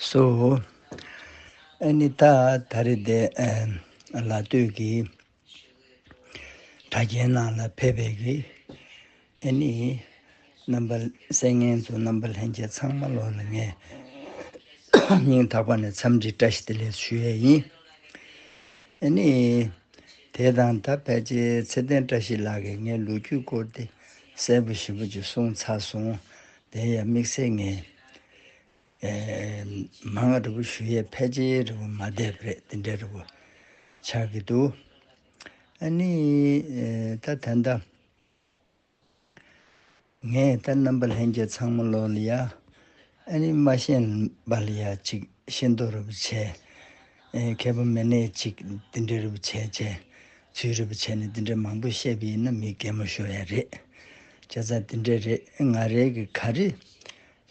སོ། ཨཱ་ནི་ཏཱ་ད་རེ་དེ་ལ་ལྟོས་ཀྱི། གྲ་རྒྱས་ནང་ལ་ཕེབས་པའི་གི། ཨཱ་ནི། རྣམ་པ་སེལ་ངན་དུ་རྣམ་པ་ལྷན་སྐྱེས་ཚང་མ་ལོག་ལ་ངས། སྙིང་ཐག་པ་ནས་འཚམས་འདྲི་བཀྲ་ཤིས་བདེ་ལེགས་སུ་ཞུ་ཡས་ཡིན། ཨཱ་ནི། དེ་དང་ད་ཕལ་ཆེར་ཚེ་བརྟན་བཀྲ་ཤིས་ལགས་ཀྱིས་ངའི་ལོ་རྒྱུས་སྐོར་དེ་སྲས་པོ་བཞི་པོ་ཅིག་བསྲུང་ཚར་སོང། དེ་ཡང་དམིགས་བསལ་ངས། མ་ང་རི་བོ་ཞུ་ཡས་ཕལ་ཆེའི་རི་བོ་མ་བསྡད་རེད་དེ་འདྲའི་རི་བོ་ཆགས་ཀྱི་འདུག་ཨ་ནི། ད་ཐེངས་ད། ངས་ད་རྣམ་པ་ལྷན་རྒྱས་ཚང་མ་ལོག་ལ་ཡ། ཨ་ནི་མ་ཤེས་པ་ལ་ཡ་ཅིག་ཤེས་འདོགས་རེ་བོ་བྱས། མཁས་པ་མི་སྣས་ཅིག་འདི་འདྲའི་རི་བོ་ཆེ་བྱས། ཚུལ་རི་བོ་ཆེ་ནི་འདི་འདྲའི་མང་པོ་བཤད་པ་ཡིན་ན་མི་གད་མོ་ཤོར་ཡ་རེད། ཁྱེད་ཚ་འདི་འདྲའི་རེད་ང་རེད་ཀྱི་ག་རེ་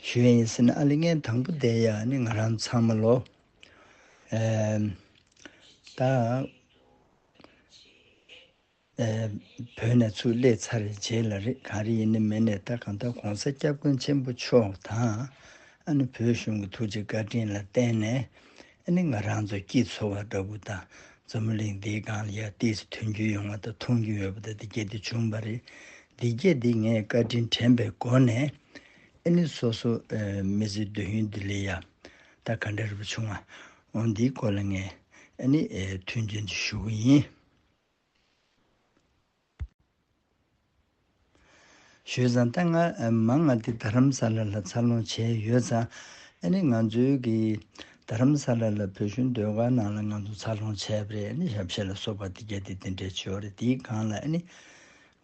ཞུ་ཡ་ཡིན་ཟེར་ན་ཨ་ལེ་ངའི་དང་པོ་བསྡད་ཡ་ནི་ང་རང་ཚང་མ་ལོ། ད། བོད་ནས་ཚུར་སླེབས་ཚར་རྗེས་ལ་རེ་ག་རེ་ཡིན་ནི་མིན་ནས་ད་གང་ལྟར་གོང་ས་སྐྱབས་མགོན་ཆེན་པོ་མཆོག་དང། ཨ་ནི་བོད་གཞུང་གི་ཐུགས་རྗེ་བཀའ་དྲིན་ལ་བརྟེན་ནས་ཨ་ནི་ང་རང་ཚོ་སྐྱིད་འཚོ་བ་འདྲ་བོ་དང་མཛོ་མོ་གླིང་འདིའི་སྒང་ལ་ཡར་བལྟས་ཚེ་ཐོན་རྒྱུ་ཡོང་བ་དང་མཐོང་རྒྱུ་ཡོད་པ་དང་འདི་སྐད་དུ་བྱུང་བ་རེད། འདི་སྐད་འདི་ངས་བཀའ་དྲིན་དྲན་པའི་སྒོ་ནས་ཨ་ནི་སོ་སོ་མི་ཚེའི་འདོད་ཡོན་འདི་ལས་ཡར་ད་ག་འདྲ་རེ་བ་བྱུང་ཨང་འོང་འདིའི་སྐོར་ལ་ངས་ཨ་ནི་མཐུན་རྐྱེན་དུ་ཞུ་གི་ཡིན། བཞུད་བཟང་ལྟ་ང་མ་ང་དེ་རྡ་རམ་ས་ལ་ལ་འཚར་ལོངས་བྱས་ཡོད་ཙང་ཨ་ནི་ང་ཚོའི་གི་རྡ་རམ་ས་ལ་ལ་བོད་གཞུང་སྡོད་སྒར་ནང་ལ་ང་ཚོ་འཚར་ལོངས་བྱས་པ་རེད་ཨ་ནི་ཞབས་བཞེས་ལ་སོགས་པ་དེ་རྒྱ་དེ་དེ་འདྲའི་ཆོས་རེད་དེའི་སྒང་ལ་ཨ་ནི་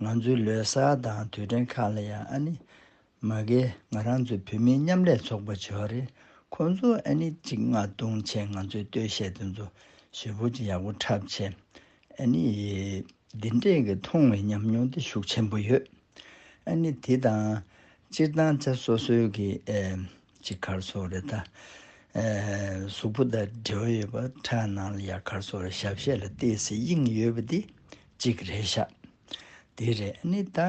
ང་ཚོའི་ལོས་སར་དང་དུས་དྲན་ཁག་ལ་ཡང་ཨ་ནི་མ་གལ་ང་རང་ཚོའི་བོད་མིའི་མཉམ་ལས་ཚོགས་པ་བྱེ་བ་རེད་ཁོང་ཚོ་ཨ་ནི་གཅིག་ང་ལྟུང་བྱས་ང་ཚོའི་ལྟོས་བཤད་དེ་ཚོ་ཞེ་བོ་ཅིག་ཡག་པོ་འཁྲབ་བྱས་ཨ་ནི་འདི་འདྲས་ཀྱི་མཐོང་བའི་ཉམས་མྱོང་དེ་ཤུགས་ཆེན་པོ་ཡོད་ཨ་ནི་དེ་དང་སྤྱིར་བཏང་ཚེ་སོ་སོའི་གི་ཅིག་གར་སོ་རེ་ད་གཟུགས་པོ་དང་འབྲེལ་བ་ཡོད་པ་ཁྲག་ནང་ལ་ཡར་གར་སོ་རེ་ཞབས་གཞས་ལ་བལྟས་ཚེ་དབྱིངས་ཡོད་པ་དེ་གཅིག་རེད་ཤག་དེ་རེད་ཨ་ནི་ད་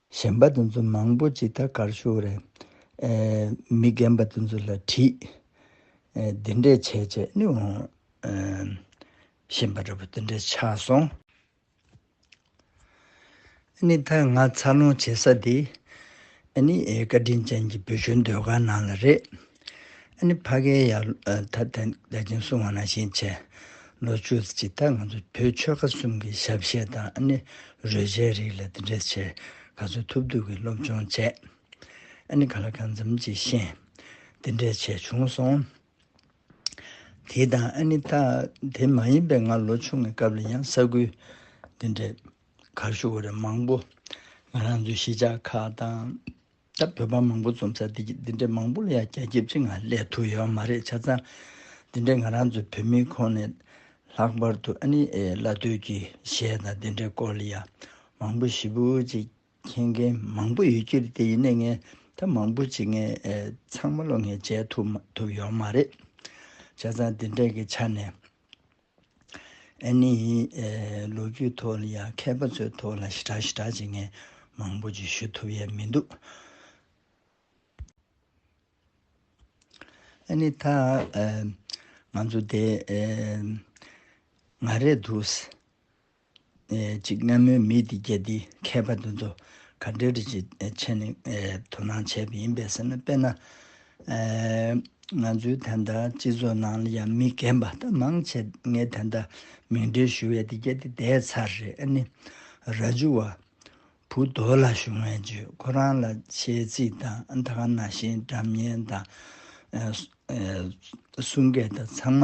གཞན་པ་དེ་ཚོ་མང་པོ་ཅི་ད་གར་ཞུགས་རེད། མི་རྒན་པ་དེ་ཚོ་ལ་དྲིས། འདི་འདྲས་བྱས་བྱས་ནི་འོང། གཞན་པ་འདྲ་པོ་དེ་འདྲས་ཆགས་སོང། ནི་ད་ང་འཚར་ལོངས་བྱེད་ས་དེ། ནི་བཀའ་དྲིན་ཅན་གྱི་བོད་གཞོན་སྡོད་ཁང་ནང་ལ་རེད། ཨ་ནི་ཕ་གའི་ཡར་ལྷོའི་ཐ་དད་བདེ་ཆེན་སྲུང་བ་ན་བཞིན་བྱས། ལོ་བཅུ་གཅིག་ཐ་ང་ཚོ་བོད་ཆོལ་ཁ་གསུམ་གྱི་ཞབས་གཞས་དང་ཨ་ནི་རོལ་ཆའི་རིགས་ལ་འདི་འདྲའི་ཆེ་ག་ཚོད་ཐུབ་ཐུབ་ཀྱིས་སློབ་སྦྱོང་བྱས། ཨ་ནི་ག་ལ་གང་འཚམ་གྱིས་ཤེས། འདི་འདྲའི་ཆེ་བྱུང་སོང། དེ་དང་ཨ་ནི་ཐ་དེ་མ་ཡིན་པའི་ང་ལོ་ཆུང་གི་སྐབས་ལ་ཡང་ས་ཁུལ་འདི་འདྲའི་གར་བཞུགས་བ་རེ་མང་པོ་ང་རང་ཚོའི་གཞིས་ཆགས་ཁག་དང། ད་བོད་པ་མང་པོ་འཛོམས་ས་འདི་ཀྱི་འདི་འདྲའི་མང་པོ་ལ་ཡང་རྒྱ་ཁྱབ་ཅིག་ང་ལས་ཐུག་ཡོད་མ་རེད་ཆ་ཚང་འདི་འདྲའི་ང་རང་ཚོའི་བོད་མིའི་ཁོངས་ནས་ལྷག་པར་དུ་ཨ་ནི་བླ་སྟོད་ཀྱི་གཞས་དང་འདི་འདྲའི་སྐོར་ལ་ཡང་མང་པོ་ཞིབ་པོ་ཅིག་མཁྱེན་མཁན་མང་པོ་ཡོད་ཀྱི་རེད་དེ་ཡིན་ནའི་ངས་ད་མང་པོ་ཅིག་ངས་ཚང་མ་ལོ་ངས་མཇལ་ཐུབ་ཐུབ་ཡོད་མ་རེད་ཆ་ཚང་འདི་འདྲའི་ཆ་ནས། ཨེ་ནི། ལོ་རྒྱུས་ཐོག་ལ་ཡང་མཁས་པ་ཚོའི་ཐོག་ལ་ཞི་དྲག་ཞི་དྲག་བྱེད་མཁན་མང་པོ་ཅིག་ཞུ་ཐུབ་ཡས་མི་འདུག། ཨེ་ནི། ད་ང་ཚོ་དེ་ང་རེད་འདུག། ཅིག་སྔ་མོའི་མི་དེ་རྒྱལ་དེའི་མཁས་པ་དེ་ཚོ་ག་འདྲའི་རིགས་ཀྱི་མཆན་ནས་དོ་སྣང་བྱས་པ་ཡིན་པས་ཟེར་ན་དཔེར་ན། ང་ཚོའི་དེ་འདྲ་སྤྱི་ཚོགས་ནང་ལ་ཡང་མི་རྒན་པ་ད་མང་ཆེ་ངས་དེ་འདྲ་མིང་འདྲེན་ཞུ་བས་དེ་རྒྱལ་དེ་དེའི་ཚར་རེད་ཨ་ནི། ར་ཇུ་བ། བུ་རྡོ་ལ་ཞུ་ངས་བརྗོད་ཁོ་རང་ལ་ཆེའི་རྩིས་དང་ཨ་མཐའ་ན་བཞིན་འགྲམ་གཉེན་དང། གསུང་སྐད་དང་ཚང་མ་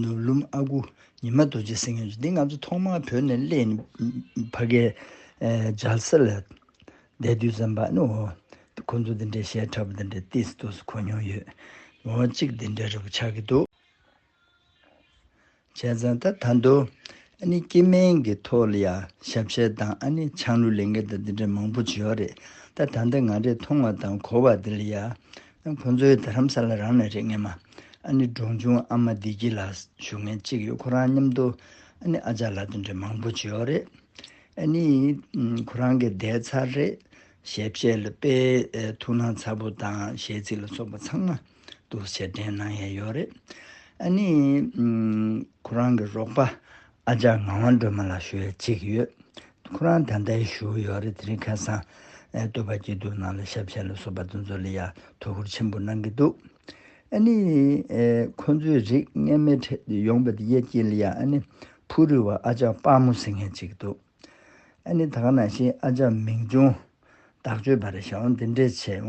ནུབ་ཀླུང་ཨ་ཁུ་ཉི་མ་རྡོ་རྗེ་སེང་གེ་མཆོག་འདི་ང་ཚོ་ཐོག་མར་བོད་ནས་གླེང་ནས་ཕ་གི་ལྗགས་སེར་ལ་བསྡད་དུས་ཙམ་པ་ནི་འོ་ཁོང་ཚོ་འདི་འདྲའི་ཞལ་ཕྲ་བོ་འདི་འདྲའི་ཏིས་ཏུ་སུ་གོ་མྱོང་ཡོད། ངོ་བོ་གཅིག་འདི་འདྲའི་རི་བོ་ཆགས་ཀྱི་འདུག། བྱས་ཙང་ད་ད་འདུག་ཨ་ནི་སྐྱེས་དམན་གྱི་ཐོག་ལ་ཡང་ཞབས་བཤད་དང་ཨ་ནི་ཆང་ལུད་ལེན་མཁན་དང་འདི་འདྲའི་མང་པོ་བྱོས་རེད་ད་ད་འདི་ང་རེ་མཐོང་བ་དང་གོ་བ་འདི་ལ་ཡང་ཁོ་ཚོའི་དར་ཧམ་ས་ལ་རང་ནས་རེག་ངེས་མ། ཨ་ནི་འབྲོང་ཆུང་ཨ་མ་བདེ་སྐྱིད་ལགས་ཞུ་མཁན་གཅིག་ཡོད་ཁོ་རང་མཉམ་དུ་ཨ་ནི་ཨ་ཅག་ལགས་དེ་འདྲ་མང་པོ་བྱེད་ཡོད་རེད། ཨ་ནི་ཁོ་རང་གི་བརྡའི་ཚར་རེད། ཞལ་བཞེས་ལ་དཔེ་ཐུགས་སྣང་ཚ་པོ་དང་ཞལ་གཟིགས་ལ་སོགས་པ་ཚང་མ་དུ་ཞལ་འདྲེན་གནང་ཡས་ཡོད་རེད། ཨ་ནི་ཁོ་རང་གི་རོགས་པ་ཨ་ཅག་ངག་དབང་སྒྲོལ་མ་ལ་ཞུ་ཡ་གཅིག་ཡོད། ཁོ་རང་ད་ལྟའི་བཞུགས་ཡོད་རེད་དེ་རིང་ཁ་སང་སྟོད་པ་སྐྱིད་སྡུག་ནང་ལ་ཞབས་ཕྱི་ལ་སོགས་པ་དུ་ཚོད་ལ་ཡ་ཐུག་ཁུར་ཆེན་པོ་གནང་གི་འདུག་ཨ་ནི། ཁོ་ཚོའི་རིགས་ངན་མའི་ཁྲིད་དུ་ཡོང་པ་དེ་ཡ་སྐྱིད་ལ་ཡ་ཨ་ནི་ཕུ་རུལ་བ་ཨ་ཅག་དཔའ་མོ་ཟེར་མཁན་གཅིག་འདུག་ཨ་ནི་ད་ག་ན་ཤི་ཨ་ཅག་མིང་ཆུང་བདག་སྤྱོད་པ་རེད་ཞའོ་འདི་འདྲས་བྱས་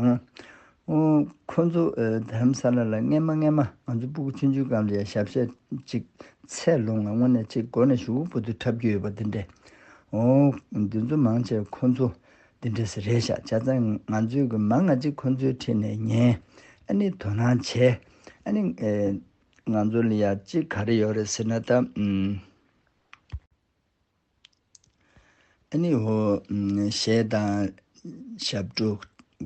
འོང། ཁོ་ཚོ་དེ་རམ་ས་ལ་ལ་རྔན་མ་རྔན་མ་ང་ཚོ་སྤུ་གུ་ཆུང་ཆུང་གམ་རེད་ཞབས་བཤད་ཅིག་ཚད་ལོང་ང་དངོས་གནས་ཅིག་མགོ་ནས་ཞུགས་པོ་ཏུ་འཁྲབ་རྒྱུ་ཡོད་པ་འདི་འདྲས་འོང། འདི་ཚོ་མང་ཆེ་བ་ཁོ་ཚོ་འདི་འདྲས་ས་རེད་ཞག་བྱ་ཚ་ང་ཚོའི་གི་མ་ང་ཅིག་ཁོ་ཚོའི་ཁྲིད་ནས་ཉན་ཨ་ནི་དོ་སྣང་བྱས་ཨ་ནི་ང་ཚོ་ལ་ཡག་ཅིག་ག་རེ་ཡོད་རེད་ཟེར་ན་ད། གཞས་དང་ཞབས་བྲོ་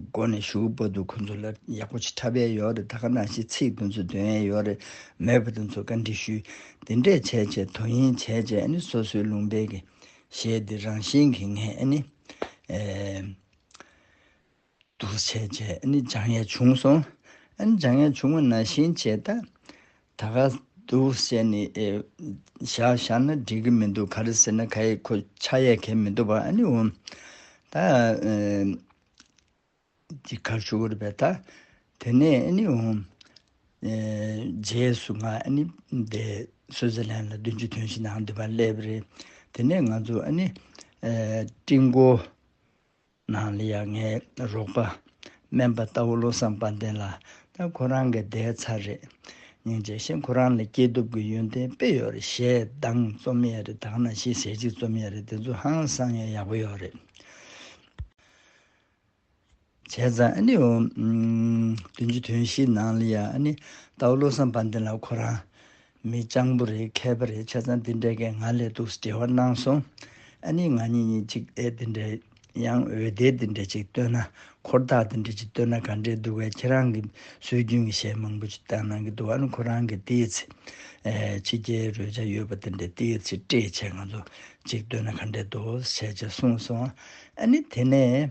སྒོ་ནས་ཞུགས་པ་དུ་ཁོ་ཚོ་ལ་ཡག་པོ་ཆེ་ཕྲ་བས་ཡོད་རེད་ད་ག་ནང་བཞིན་ཚིག་དུ་ཚོ་འདོན་ཡས་ཡོད་རེད་མེད་པ་དུ་ཚོ་བཀའ་འདྲི་ཞུས་དེ་འདྲས་བྱས་བྱས་དོ་ཡིན་བྱས་བྱས་ཨ་ནི་སོ་སོའི་ལུང་པའི་གཞས་དེ་རང་བཞིན་གྱིས་ངས་ཨ་ནི། འདུ་བྱེད་བཅས་ནི་སྦྱང་ཡས་བྱུང་སོ། སྦྱང་ཡས་བྱུང་བ་ན་ཤིན་བྱེད་དད། ད་ག་འདུ་བྱེད་ནི་བཞག་བཞག་ན་འགྲིག་གི་མི་འདུག་ག་རེ་ཟེར་ན་ག་ཡི་ཁོ་ཆ་ཡས་གས་མི་འདུག་པ་ཨ་ནི་འོང། ད་འདི་གར་བཞུགས་ར་བས་ད་དེ་ནས་ཨ་ནི་འོང། རྗེས་སུ་ང་ཨ་ནི་བདེ་གསོལ་ཟེར་ལན་ལ་བདུན་ཅུ་དོན་བཞི་ནའང་འདུས་པར་སླེབ་རེ། དེ་ནས་ང་ཚོ་ཨ་ནི་སྤྲིང་སྒོ། ནང་ལ་ཡང་ངའི་རོགས་པ་སྨན་པ་རྟ་བོ་བློ་བཟང་དཔལ་ལྡན་ལགས་དང་ཁོ་རང་གི་སྡེའི་ཚར་རེད། ཉིན་རྗེས་ཤིག་ཁོ་རང་ལ་སྐྱེས་ཐོབ་ཀྱི་ཡོན་ཏན་དཔེ་ཡོད་རེད་ཞེས་གདངས་རྩོམ་ཡས་རེད་དང་ན་ཤིས་ཟས་གཅིག་རྩོམ་ཡས་རེད་དེ་ཚོ་ཧང་སང་ཡས་ཡག་པོ་ཡོད་རེད། བྱས་ཙང་ཨ་ནི་འོ། དོན་གྱི་དོན་ཤིག་ནང་ལ་ཡང་ཨ་ནི་རྟ་བོ་བློ་བཟང་དཔལ་ལྡན་ལགས་ཁོ་རང་མི་སྤྱང་པོ་རེད་མཁས་པ་རེད་ཆ་ཚང་འདི་འདྲས་ཀས་ང་ལས་སྡུག་ཟེར་བ་གནང་སོང་ཨ་ནི་ང་གཉིས་གཉིས་ཅིག་ཨེ་འདི་འདྲས་ཡང་འོད་སྡེར་འདི་འདྲས་ཅིག་བསྟོད་ན་འཁོར་བདག་འདི་འདྲས་ཅིག་བསྟོད་ན་ག་འདྲས་འདུག་གས་ཁྱེད་རང་གི་སྲོལ་རྒྱུན་གྱི་གཞས་མང་པོ་ཅིག་བཏང་གནང་གི་འདུག་ཨ་ནི་ཁོ་རང་གི་ཏིའི་ཚེ་ཕྱི་རྒྱལ་རོལ་ཆ་ཡོད་པ་འདི་འདྲས་ཏིའི་ཚེ་བཀྲེས་བྱས་ང་ཚོ་ཅིག་བསྟོད་ན་ག་འདྲས་འདུག་ཟེར་བྱས་གསུངས་སོང་ཨ་ནི་དེ་ནས།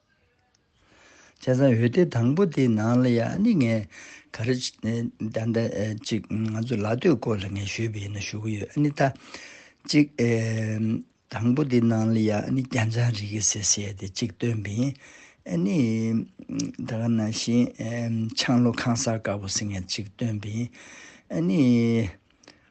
བྱས་ཙང་འོད་སྡེར་དང་པོ་དེའི་ནང་ལ་ཡང་ཨ་ནི་ངས་ག་རེ་ད་ལྟ་ཅིག་ང་ཚོ་ལ་སྟོད་སྐོར་ལ་ངས་ཞོད་པའི་ཡིན་ན་ཞུ་གི་ཡོད་ཨ་ནི་ད་ཅིག་དང་པོ་དེའི་ནང་ལ་ཡང་ཨ་ནི་རྒྱ་མཚང་རིག་གི་ཟེར་ཟེར་ཏེ་ཅིག་བཏོན་པའི་ཡིན་ཨ་ནི་ད་ག་ནང་བཞིན་ཆང་ལོ་ཁང་གསར་དཀར་པོ་ཟེར་ངས་ཅིག་བཏོན་པའི་ཡིན་ཨ་ནི།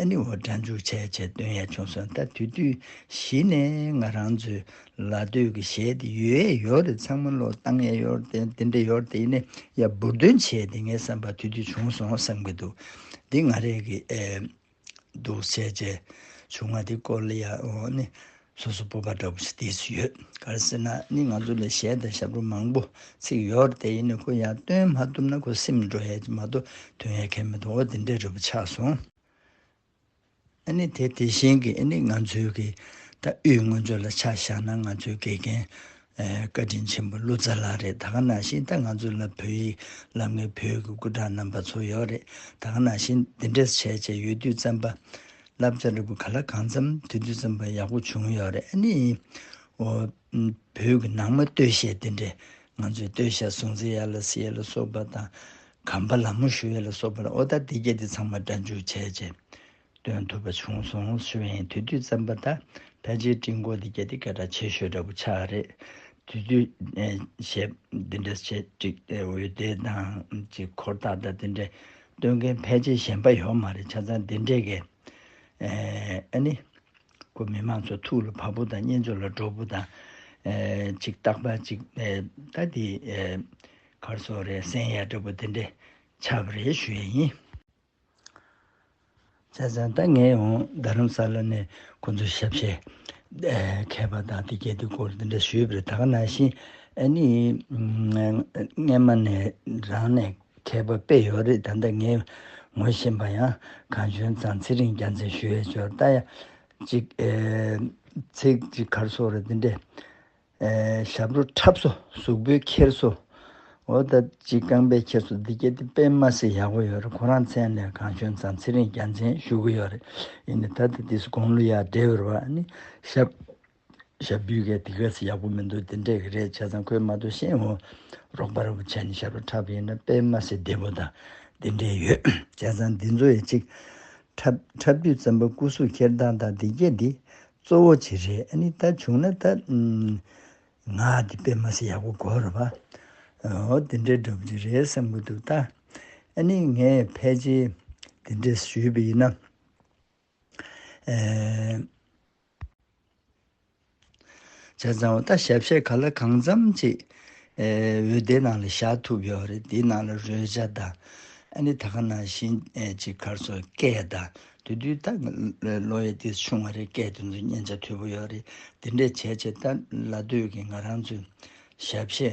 ཨེ་ནི་འོ་སྦྲ་འཇུག་བྱས་བྱས་སྟོན་ཡ་བྱུང་སོང་ད་དུས་དུས་གཞི་ནས་ང་རང་ཚོའི་ལ་སྟོད་ཀྱི་གཞས་དེ་ཡོད་ཨེ་ཡོད་རེད་ཚང་མ་བློ་བཏང་ཨེ་ཡོད་དེ་འདི་འདྲ་ཡོད་དེ་ནས་ཡ་འབུར་འདོན་བྱས་དེ་ངའི་བསམ་པར་དུས་དུས་བྱུང་སོང་བསམ་གྱི་འདུག་འདི་ང་རེད་ཀྱི་ཨེ་འདུག་བྱས་བྱས་བྱུང་ང་དེ་སྐོར་ལ་ཡ་འོ་ནི། སོ་སོ་སྤོབས་པ་འདྲ་པོ་ཞིག་བསྡད་ཡོད་གར་སེ་ན་ནི་ང་ཚོ་ལས་གཞས་དང་ཞབས་བྲོ་མང་པོ་ཚིག་ཡོད་དེ་ཡིན་ནའི་ཁོ་ཡང་སྟོན་མ་ཐུབ་ན་ཁོ་སེམས་འགྲོ་ཡས་ཀྱི་མ་གཏོགས་དོན་ཡས་ཁས་མི་འདུག་འོ་དེ་འདྲས་རེད་པོ་ཆགས་སོང། ཨ་ནི་དེ་དེ་བཞིན་གྱི་ཨ་ནི་ང་ཚོའི་གི་ད་དབུས་སྔོན་ཚོད་ལ་ཆ་བཞག་ན་ང་ཚོའི་དགེ་རྒན་བཀའ་དྲིན་ཆེན་པོ་ཀླུ་ཙཱ་ལགས་རེད་ད་ག་ན་བཞིན་ད་ང་ཚོ་ལ་བོད་ཡིག་ལབ་མཁན་བོད་ཀྱི་སྐུ་དྲག་རྣམ་པ་ཚོ་ཡོད་རེད་ད་ག་ན་བཞིན་འདི་འདྲས་བྱས་བྱས་ཡོད་དུས་བཙན་པ་བསླབ་བྱ་འབྲས་བུ་ག་ལ་གང་འཚམ་དུས་དུས་ཙམ་པོ་ཡག་པོ་བྱུང་ཡོད་རེད་ཨ་ནི། འོ། བོད་ཀྱི་ནང་མ་སྟོད་གཞས་དེ་འདྲས་ང་ཚོས་སྟོད་གཞས་སྲུང་བརྩི་ཡ་ལ་སི་ཡ་ལ་སོགས་པ་དང། གམ་པ་ལ་མོ་ཞུ་ཡ་ལ་སོགས་པ་ལ་ཨོ་ད་དེ་སྐད་དེ་ཚང་མ་སྒྲ་འཇུག་བྱས་རྗེས་སྟོན་ཐུབ་པ་བྱུང་སོང་ཤོད་ཡིན་དུས་དུས་ཙམ་པ་ད་ཕལ་ཆེར་སྤྲིན་སྐོར་དེ་སྐད་དེ་སྐད་གྲགས་ཆེ་ཤོས་འདྲ་པོ་ཆགས་རེད། དུས་དུས་གཞས་དེ་འདྲས་བྱས་འགྲིག་འོད་སྡེར་དང་གཅིག་འཁོར་ཐག་ད་དེ་འདྲས། སྟོན་མཁན་ཕལ་ཆེར་གཞན་པ་ཡོད་མ་རེད་ཆ་ཚང་འདི་འདྲས་ཀས་ཨ་ནི། ཁོ་མི་མང་ཚོ་ཐུགས་ལ་བབ་པོ་དང་གཉེན་ཚོ་ལ་སྒྲོག་པོ་དང། ཅིག་རྟག་པ་ཅིག་ད་འདི། གར་སོག་རེད་སེང་ཡ་འདྲ་པོ་འདི་འདྲས་ཆབ་རེད་ཞུ་ཡ་ཡིན། བཙལ་བཙལ་ད་ངས་ཡང་རྡ་རམ་ས་ལ་ནས་ཁོང་ཚོའི་ཞབས་ཕྱི་མཁས་པ་དང་དེ་སྐད་དུ་སྐོར་འདི་འདྲ་ཞུས་པར་ད་ག་ན་བཞིན་ཨ་ནི་སྔན་མ་ནས་རང་ནས་མཁས་པ་དཔེ་ཡོད་རེད་ད་ལྟ་ངས་ངོ་བཞིན་པ་ཡང་གང་བྱུང་ཙང་ཚེ་རིང་རྒྱ་མཚན་ཞུ་ཡས་ཅོར་ལྟ་ཡ་གཅིག་ཚིག་གཅིག་གར་སོ་རེད་འདི་འདྲས། ཞབས་བྲོ་འཁྲབ་བཟོ་གཟུགས་པོའི་འཁྱེར་བཟོ། འོ་ད་ཅིག་རྐང་པའི་འཁྱེར་བཟོ་འདི་རྒྱལ་ཐེབས་པས་མ་ཟེར་ཡག་པོ་ཡོད་རེད་ཁོ་རང་མཚན་ལས་གང་བྱོན་ཙང་ཚེ་རིང་རྒྱ་མཚན་བཞུགས་ཀྱི་ཡོད་རེད་ཡིན་ནའི་ད་ལྟ་དེ་སུ་དགོངས་ལུས་ཡག་འདྲེ་བོར་བ་ནི་ཞབས་བྲོ་བརྒྱུད་གས་དེ་ག་ཚེ་ཡག་པོ་མི་འདུག་དེ་འདྲས་ཀྱི་རེད་བྱས་ཙང་ཁོས་མ་གཏོགས་གཞན་ངོ་རོགས་པ་རེ་བོ་བྱས་ནས་ཞབས་བྲོ་འཁྲབ་ཡོད་ན་དཔེ་མ་ཟེར་བདེ་བོ་དང་དེ་འདྲས་ཡོད་བྱས་ཙང་འདི་ཚོ་ཡ་ཅིག་འཁྲབ་འཁྲབ་དུས་བཙན་པོ་སྐུ་གཟུགས་འཁྱེར་སྟངས་དང་འདི་རྒྱལ་འདི་གཙོ་བོ་བྱེད་རེ་ནི་ད་བྱུང་ན་ད། ང་འདི་པད་མ་སི་ཡག་པོ་གོ་རུ་བ། འོ་དེ་འདྲའི་འགྲོ་བགྱི་རེད་བསམ་གི་འདུག་ད། ནི་ངས་ཕལ་ཆེ་དེ་འདྲས་ཞུས་པ་ཡིན་ན། བྱས་ཙང་བ་ད་ཞབས་བཤད་ག་ལ་གང་འཚམ་ཅིག། འོད་སྡེ་ནང་ལ་བཞག་ཐུབ་ཡོད་རེད་དེ་ནང་ལ་རོལ་བྱ་ད། ནི་ད་ག་ནང་བཞིན་ཅིག་གར་སོ་སྐད་ད། དེ་དུས་ད་ལོ་ཡི་དུས་ཆུང་བ་རེད་སྐད་དེ་ཚོ་སྙན་ཆ་མཐོ་པོ་ཡོད་རེད་དེ་འདྲས་བྱས་བྱས་ད་ལ་དུས་ཀྱི་ང་རང་ཚོའི་ཞབས་ཕྱི་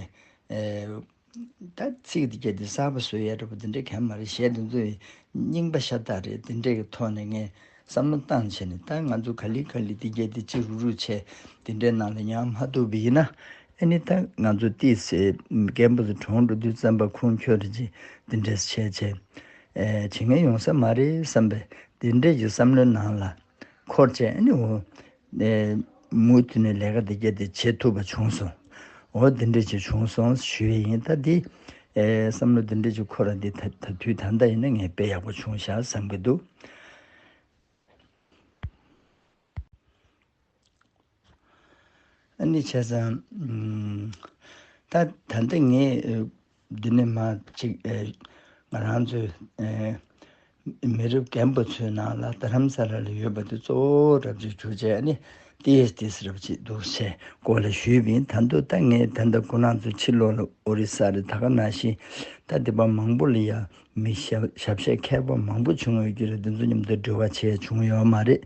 ད་ཚིག་དེ་གྱ་དེ་གསར་པ་བཟོས་ཡས་རེད་པོ་དེ་འདྲས་གན་མ་རེད་གཞས་དེ་ཚོ་ཡི་རྙིང་པ་ཤ་སྟག་རེད་དེ་འདྲས་ཀྱི་ཐོག་ནས་ངས་བསམ་བློ་བཏང་བྱས་ནས་ད་ང་ཚོ་ག་ལི་ག་ལི་དེ་གྱ་དེ་ཅི་རུག་རུག་བྱས་དེ་འདྲས་ནང་ལ་ཉམས་མ་ཐུབ་པ་ཡིན་ན་ཨེ་ནི་ད་ང་ཚོ་ཏི་སེ་རྒན་པོ་ཚོ་གྲོངས་འགྲོ་དུས་བཙན་པ་ཁུངས་འཁྱོལ་རེ་བྱས་དེ་འདྲས་བྱས་བྱས། བྱེད་ངན་ཡོང་ས་མ་རེད་བསམ་པའི་དེ་འདྲས་ཀྱི་བསམ་བློའི་ནང་ལ་འཁོར་བཅས་ནི་འོ། མུ་མཐུད་ནས་ལས་ཀ་དེ་བརྒྱད་དེ་བྱེད་ཐུབ་པ་བྱུང་སོང་འོ་དེ་འདྲས་ཀྱི་བྱུང་སོང་ཞུས་ཡས་ཡིན་ད་དེ་བསམ་བློ་དེ་འདྲས་ཀྱི་འཁོར་ར་དེ་ད་དུས་ད་ལྟ་ཡིན་ན་ངས་དཔེ་ཡག་པོ་བྱུང་ཤག་བསམ་གྱི་འདུག། ཨ་ནི་བྱས་ཙང། ད་ད་ལྟ་ངས་འདི་ནས་མ་གཅིག་ང་རང་ཚོའི་མི་རབས་རྒན་པ་ཚོའི་ནང་ལ་རྡ་རམ་ས་ལ་ལ་ཡོད་པ་དེ་གཙོ་བོ་རབ་བྱེད་གྱུར་ཅེས་ཨ་ནི་ཏི་ཡེས་ཏིས་རབ་བྱེད་འདུག་ཞེས་སྐོར་ལ་ཞུས་བས་ད་འདོད་ད་ངས་ད་ལྟ་ཁོ་རང་ཚོ་ཕྱིར་ལོག་ལ་ཨོ་རི་ས་རི་ད་ག་ན་ཞིག་ད་འདི་བ་མང་པོ་ལ་ཡ་མི་ཞབས་བཤད་མཁས་པ་མང་པོ་བྱུང་ཡོད་ཀྱི་རེད་འདི་ཚོ་མཉམ་དུ་འབྲེལ་བ་བྱས་བྱུང་ཡོད་མ་རེད།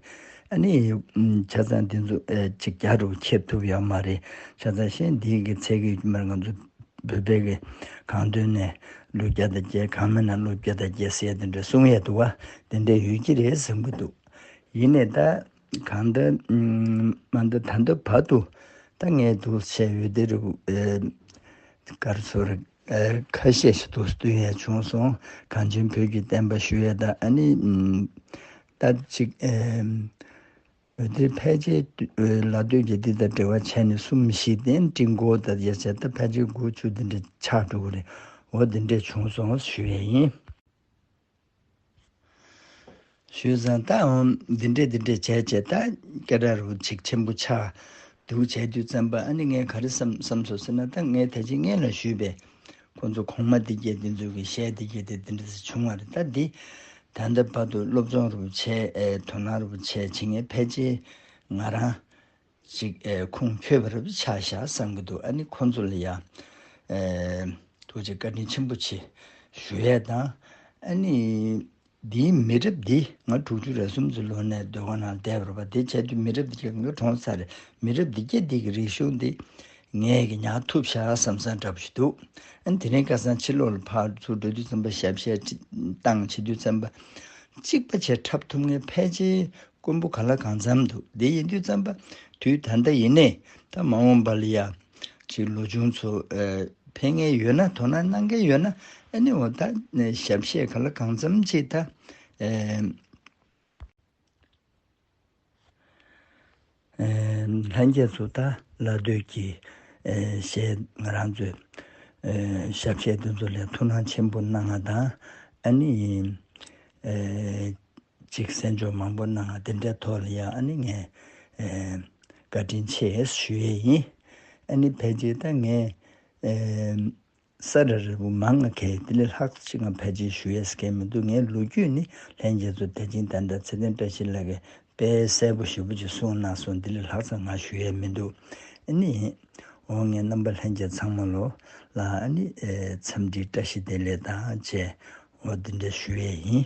ཨ་ནི་བྱ་ཚང་འདི་ཚོ་ཅིག་རྒྱ་རུ་ཁྱེར་ཐུབ་ཡོད་མ་རེད། བྱ་ཚང་གཞན་འདིའི་གི་ཚད་གི་མར་ང་ཚོ་བོད་པའི་གི་གང་དོན་ནས་ལོ་བརྒྱ་དང་བརྒྱད་གང་མེད་ན་ལོ་བརྒྱ་དང་བརྒྱད་ཟེར་དེ་འདྲ་གསུང་ཡས་འདུག་བ་དེ་འདྲ་ཡོད་ཀྱི་རེད་གསུང་གི་འདུག་ཡིན་ནས་ད་གང་ད་མ་འདི་ད་འདི་བར་དུ་ད་ངས་དུ་བཤད་ཡོད་དེ་རུ་གར་སོ་རེད། ཁ་ཤས་ཤིག་ཏུ་བསྟུན་ཡས་བྱུང་སོང་གངས་ཅན་བོད་ཀྱི་བསྟན་པ་ཞུ་ཡས་དང་ཨ་ནི་ལྟ་ཅིག། བོད་དེ་ཕལ་ཆེ་ལ་སྟོད་ཀྱི་འདི་དང་འབྲེལ་བ་ཆད་ནས་གསུམ་བཞི་སྟེང་སྤྲིན་དགུ་ད་ཡས་བྱས་སྟབས་ཕལ་ཆེ་དགུ་བཅུ་འདི་འདྲ་ཆགས་འགྲོ་གི་རེད་འོ་འདི་འདྲས་བྱུང་སོང་ཞུ་ཡས་ཡིན། ཞུས་བཟང་ད་འོང་འདི་འདྲས་འདི་འདྲས་བྱས་བྱས་ད་སྐད་སྒྲ་རུ་ཆིག་ཆེན་པོ་ཆགས་འདུག་བྱས་དུས་བཙན་པོ་ཨ་ནི་ངས་ག་རེ་བསམ་བསམ་ཟོ་ཟེར་ན་ད་ངས་ད་ཅི་ངེས་ལ་ཞུས་པས་ཁོང་ཚོ་གོང་མ་འདི་སྐད་འདི་ཚོ་གི་གཞས་འདི་སྐད་དེ་འདི་འདྲ་ཟེར་བྱུང་བ་རེད་ད་འདི་ད་ལྟ་བར་དུ་སློབ་སྦྱོང་རུ་བྱས་དོ་སྣང་རུ་བྱས་བྱེད་ངེས་ཕལ་ཆེར་ང་རང་ཅིག་ཨེ་ཁུང་ཁྱོད་བར་བར་ཆག་བཞག་བསམ་གི་འདུག་ཨ་ནི་ཁོང་ཚོ་ལ་ཡང་ཨེ། ཐུགས་རྗེ་བཀའ་དྲིན་ཆེན་པོ་ཆེ་ཞུ་ཡས་དང་ཨེ་ནི། འདིའི་མི་རབས་འདི་ང་དྲུག་ཅུ་རེ་གསུམ་ཚོ་ལོ་ནས་སྡོད་ཁང་ནང་བསྡད་བར་བ་དེ་བྱས་དུས་མི་རབས་འདི་ཁྱོད་ཀྱི་གྲོངས་ཚར་མི་རབས་འདི་རྒྱ་འདི་གི་རིག་གཞུང་འདི་ངས་གི་ཉག་ཐུབ་བཞག་བསམ་བསམ་འདྲ་པོ་ཞིག་འདུག་ཨ་ནི་དེ་རིང་བཀའ་བཟང་ཕྱིར་ལོག་ལ་ཕར་ཚུར་འགྲོ་དུས་བཙན་པོ་ཞབས་གཞས་བཏང་བྱེད་དུས་བཙན་པོ་གཅིག་པ་བྱས་འཁྲབ་ཐུབ་ངེས་ཕལ་ཆེར་རྐུན་པོ་ག་ལ་གང་འཚམས་འདུག་འདི་ཡིན་དུས་བརྩམས་པ་དུས་ད་ལྟ་ཡིན་ནས་ད་མ་འོངས་པ་ལ་ཡ། ཅིག་ལོ་ཆུང་ཚོ། ཕན་ངེས་ཡོད་ན་དོ་སྣང་གནང་མཁན་ཡོད་ན་ཨེ་ནི་འོ་ད་ཞབས་བཤད་ག་ལ་གང་འཚམས་ཅིག་ད། ལྷན་རྒྱས་ཚོ་ད་ལ་སྡོད་ཀྱི། ཞེས་ང་རང་ཚོའི། ཞབས་བཤད་འདི་ཚོ་ལས་དོ་སྣང་ཆེན་པོ་གནང་ང་དང་ཨེ་ནི། ཅིག་གསན་འཇོག་མང་པོ་གནང་འདི་འདྲའི་ཐོག་ལ་ཡང་ཨ་ནི་ངས་བཀའ་དྲིན་ཆེ་ཞུ་ཡས་ཡིན་ཨ་ནི་ཕལ་ཆེར་ད་ངས་ས་ར་རེ་བོ་མ་ང་གས་དེ་ལས་ལྷག་ཅིག་ང་ཕལ་ཆེར་ཞུ་ཡས་གས་མི་འདུག་ངའི་ལོ་རྒྱུས་ནི་ལྷན་རྒྱས་ཚོ་དད་ཅིང་དད་འདའ་ཚེ་བརྟན་བཀྲ་ཤིས་ལགས་གས་དཔེ་གསལ་པོ་ཞིབ་པོ་ཅིག་གསུངས་གནང་སོང་དེ་ལས་ལྷག་ཙམ་ང་ཞུ་ཡས་མི་འདུག་ཨ་ནི་འོ་ངས་རྣམ་པ་ལྷན་རྒྱས་ཚང་མ་ལོ་ལ་ཨ་ནི་འཚམས་འདྲིའི་བཀྲ་ཤིས་བདེ་ལེགས་དང་བཅས་འོ་འདི་འདྲ་ཞུ་ཡས་ཡིན།